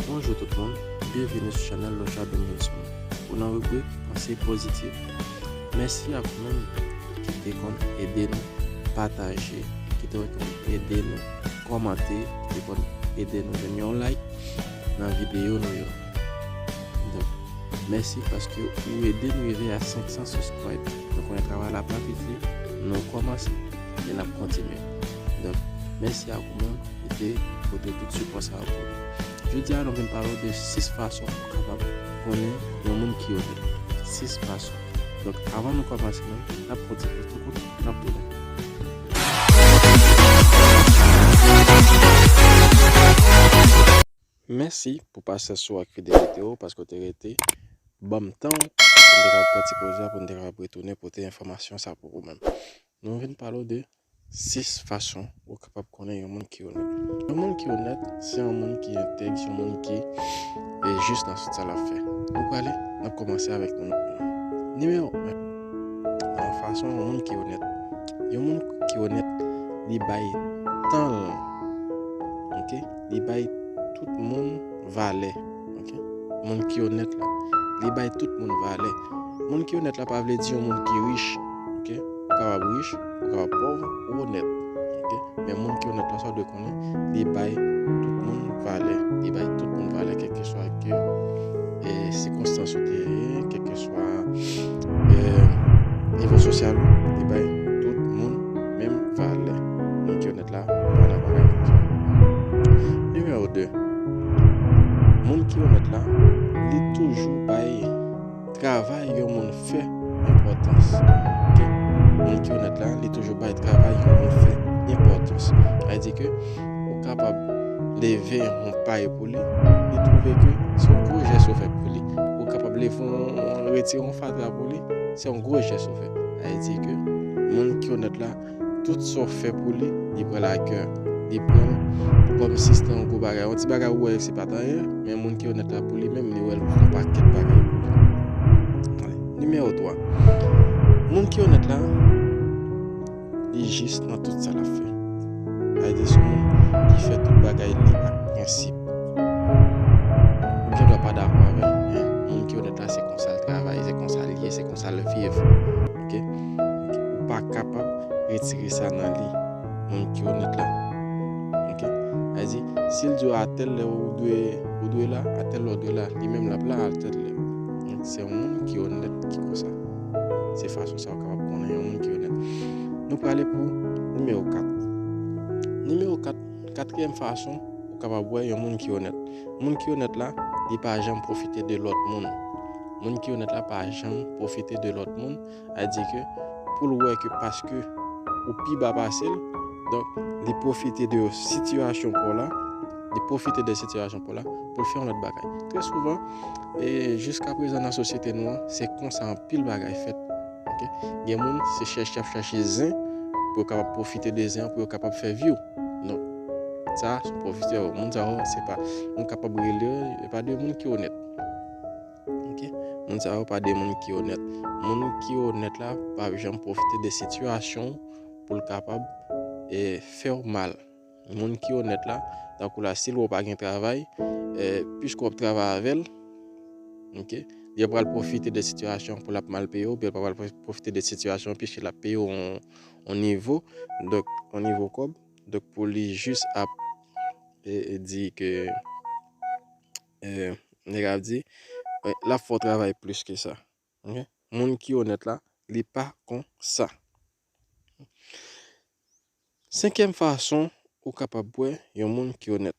Bonjou tout moun, byenvini sou chanèl Loca Bengelson ou nan ribrik Panse Pozitif. Mèsi ak ou menm ki te konn ede nou pataje, ki te konn ede nou kòmante, ki te konn ede nou menm yon like nan videyo nou yo. Donk, mèsi paske ou ede nou rive a 500 subscribe. Nou konnen travay la pa piti, nou kòmanse. e nap kontinye donk mèsi ak ou menm ki te pote tout sipò sa pou nou jodi a nou vin pale w de 6 fason pou kapab konnen yon moun ki onèt 6 fason donk avan nou kòmanse menm nap pran ti poz nou konn nap tounen. Mèsi pou pasyans ou ak fidelite ou paske ou te rete banm tan ou pou m te kapab pran ti poz la pou m te kapab retounen pote enfòmasyon sa pou ou menm. Nou vin pale ou de 6 fason ou kapab konnen yon moun ki onèt. Yon moun ki onèt se yon moun ki entèg, se yon moun ki jis nan tout sa l ap fè. Nou prale, n ap kòmanse avèk nimewo 1. Nimewo 1 nan fason yon moun ki onèt. Yon moun ki onèt li bay tan l, ok. Li bay tout moun valè. Moun ki onèt la. Li bay tout moun valè. Moun ki onèt la pa vle di yon moun ki rich. Ou kapab rich, ou kapab pòv, ou onèt. Men moun ki onèt la sa w dwe konnen, li bay tout moun valè. Li bay tout moun valè kèlkeswa ki sikonstans ou te ye, kèlkeswa nivo sosyal ou, li bay tout moun menm valè. Pwofèt la, mwen nan pale avèk yo. Nimewo 2, Moun kilomèt la, li toujou bay travay yon moun fè enpòtans. Ok. Moun kilomèt la, li toujou bay travay yon moun fè enpòtans. Sa vle di ke ou kapab leve yon pay pou li, li twouve ke se yon gwo jès ou fè pou li. Ou kapab leve yon, retire yon fatra pou li, se yon gwo jès ou fè. Sa vle di ke moun kilomèt la. tout sa w fè pou li, li pran l a kè. Li pran l kòm si se te yon gwo bagay. Yon ti bagay ou wè se pa t anyen, men moun ki onèt la pou li menm, li wè l kòm yon pakèt bagay pou li. Nimewo 3, Moun ki onèt la, li jis nan tout sa l ap fè. Sa vle di se yon moun ki fè tout bagay li ak prensip. Ou gen dwa pa dakò avè l, men moun ki onèt la se konsa l travay, se konsa l ye, se konsa l viv. Ok ou pa kapab retire sa nan li moun ki onèt la ok sa di sil diw a tèl lè ou dwe ou dwe la a tèl lè ou dwe la li menm lap la a tèl lè donk se yon moun ki onèt ki konsa se fason sa ou kapab konnen yon moun ki onèt nou prale pou nimewo 4 nimewo 4 katriyèm fason ou kapab wè yon moun ki onèt moun ki onèt la li pa janm pwofite de lòt moun Moun ki onèt la pa janm pwofite de lòt moun, a di ke pou l wè ke paske ou pi ba pase l, donk li pwofite de sitiyasyon pa w la, li pwofite de sitiyasyon pa w la pou l fè yon lòt bagay. Trè souvan, e jiska prezan nan sosyete nou an, se konsa anpil bagay fèt. Ok, gen moun se chèche y ap chèche zen pou yo kapab pwofite de zen an pou yo kapab fè view. Non, sa se pwofitè yo. Moun sa yo se pa, nou kapab rele yo, se pa de moun ki onèt. Moun sa yo pa de moun ki onèt. Moun ki onèt la pa janm pwofite de sitiyasyon ou pou l kapab fè w mal. Moun ki onèt la, tankou la si l wè w pa gen travay, piske w ap travay avè l, li pral pwofite de sitiyasyon pou l ap mal peye w, oubyen l pral pwofite de sitiyasyon an piske l ap peye w yon nivo, yon nivo kòb, pou li jis ap di ke. Nèg la ap di, l ap fè w travay plis ke sa. Moun ki onèt la, li pa kon sa. Senkyèm fason ou kapab wè yon moun ki onèt.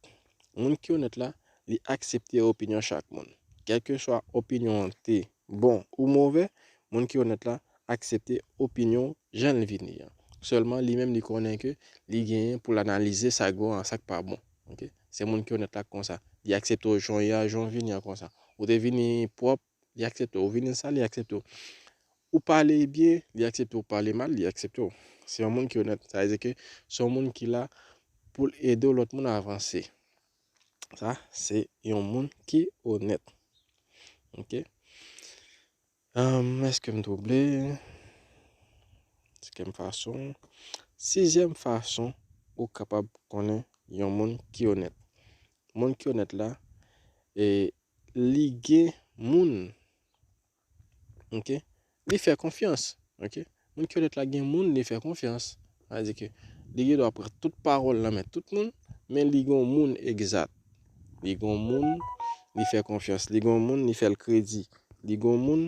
Moun ki onèt la, li aksepte opinyon chak moun. Kèlkeswa opinyon an te bon ou move, moun ki onèt la aksepte opinyon jan l vini an. Sèlman li menm li konnen ke li genyen pou l analize sa k bon ak sa k pa bon. Ok se moun ki onèt la ki konsa li aksepte w jan w ye a jan w vini an konsa ou te vini pwòp li aksepte w ou vini sal li aksepte w ou pale byen li aksepte w ou pale mal li aksepte w se yon moun ki onèt sa vle di ke se yon moun ki la pou l ede lòt moun avanse sa se yon moun ki onèt ok Humm eske m twouble? Sikem fason Sizyèm fason ou kapab konnen yon moun ki onèt Moun ki onèt la e li gen moun ok li fè konfyans ok Moun ki onèt la gen moun li fè konfyans. Sa vle di ke li gen dwa pran tout pawòl nan men tout moun, men li gen yon moun egzat. Li gen yon moun li fè konfyans, li gen yon moun li fè l kredi, li gen yon moun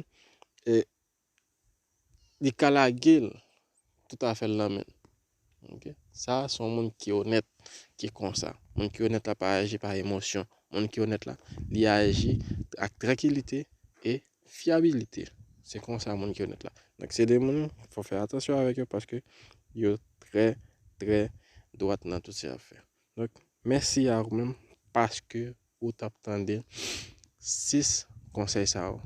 li ka lage l tout afè l nan men l. Ok sa a son moun ki onèt ki konsa. Moun ki onèt la pa aji pa emosyon. Moun ki onèt la li aji ak trankilite e fyabilite. Se konsa moun ki onèt la. Donk se de moun fò fè atansyon avèk yo paske yo trè trè dwat nan tout sa yo ap fè. Donk mèsi a ou menm paske ou tap tande 6 konsèy sa yo.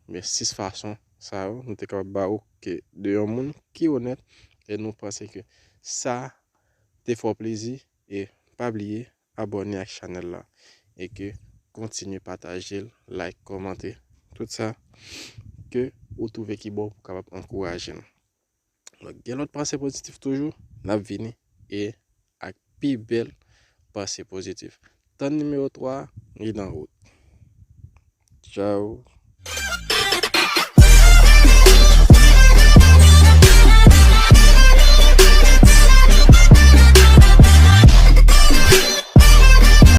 Oubyen 6 fason sa yo nou te kapab ba ou ke de yon moun ki onèt e nou panse ke sa te fè w plezi e pa bliye abòne ak chanèl la e ke kontinye pataje l, like, kòmante tout sa ke ou twouve ki bon pou kapab ankouraje m. Donk gen lòt panse pozitif toujou, n ap vini e ak pi bèl panse pozitif. Tann nimewo 3 a, li nan wout. Tchaw!